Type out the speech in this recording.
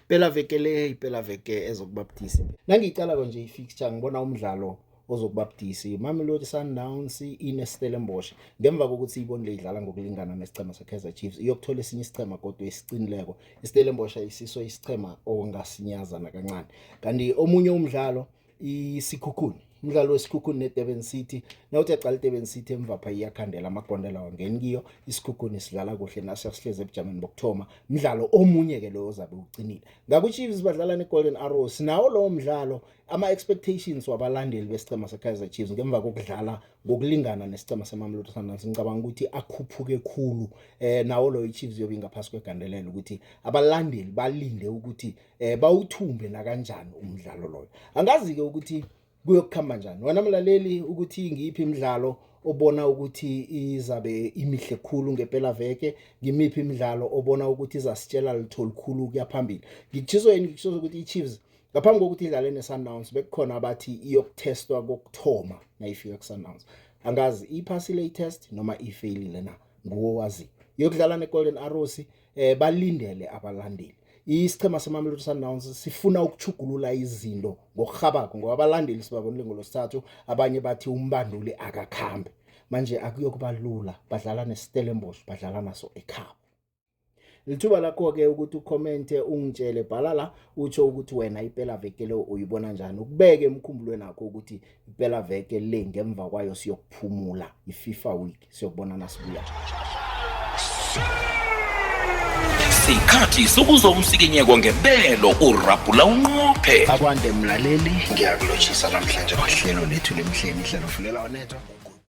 Pela veke le, pela veke ezokubabudisi. Nangiyiqalako nje i-fixture ngibona umdlalo ozokubabudisi. Mamelodi Sundowns ine Stellenbosch. Ngemva kokuthi ibonile idlala ngokulingana nesichema seKaizer Chiefs, iyokuthola esinye isichema kodwa esiqinileko. IStellenbosch ayisiso isichema ongasinyaza nakancani. Kanti omunye umdlalo isikhukhuni umdlalo wesikhukhuni nedurban city nawuthi aqala idurban city emvapha iyakhandela amagondela wangeni kiyo isikhukhuni sidlala kuhle nasiya sihlezi ebujameni bokuthoma mdlalo omunye-ke loyo ozabe ucinile ngakwichiefs badlala ne-golden arrows nawo lowo mdlalo ama-expectations wabalandeli besicema sekaizer chiefs ngemva kokudlala ngokulingana nesicema semamlotto sundowns ngicabanga ukuthi akhuphuke khulu um nawo loyo ichiefs yobe ingaphasi kwegandelela ukuthi abalandeli balinde ukuthi eh bawuthumbe nakanjani umdlalo loyo angazi ke ukuthi kuyokukhamba njani wena mlaleli ukuthi ngiyiphi imidlalo obona ukuthi izabe imihle khulu ngempela veke ngimiphi imidlalo obona ukuthi izasitshela litho likhulu kuyaphambili ngikutshiso yini ngikutshiso ukuthi i-chiefs ngaphambi kokuthi idlale ne-sundowns bekukhona abathi iyokuthestwa kokuthoma nayifika ku-sundowns angazi iphasile i-test noma ifeyilile na nguwo wazi yokudlala ne-golden arrows eh balindele abalandeli isichema semamelodi sundowns sifuna ukuchugulula izinto ngokurhabako ngoba abalandeli sibabonile ngolosithathu abanye bathi umbanduli akakhambe manje akuyokuba lula badlala nestellenbosch badlala naso ekhabo lithuba lakho-ke ukuthi ukhomente ungitshele bhala la utsho ukuthi wena ipela veke le uyibona njani ukubeke emkhumbulweni akho ukuthi ipela veke le ngemva kwayo siyokuphumula i-fifa week sio bona na subuya sikhathi sokuza umsikinyeko ngebelo urabhula unqophe akwande mlaleli ngiyakulotshisa namhlanje kwahlelo lethu lemhleni ihlelo fulela onethwa